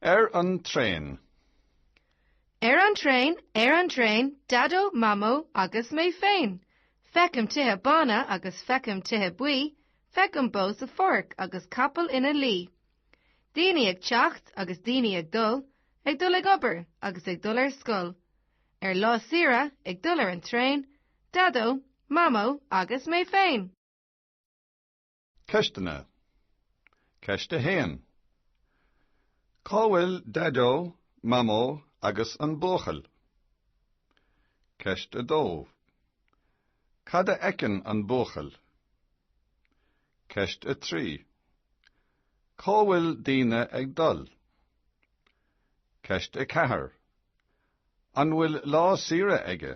Ar an traein. Ar an traein, ar an traein, Daideo, Mamó agus mé féin. Feicim tithe bána agus feicim tithe buí, feicim bó sa pháirc agus capall ina luí. Daoine ag teacht agus daoine ag dul, ag dul ag obair agus ag dul ar scoil. Ar lá saoire, ag dul ar an traein, Daideo, Mamó agus mé féin. Ceisteanna Ceist 1. Cá bhfuil Daideo, Mamó agus an buachaill? Ceist 2. Cad a fheiceann an buachaill? Ceist 3. Cá bhfuil daoine ag dul? Ceist 4. An bhfuil lá saoire aige?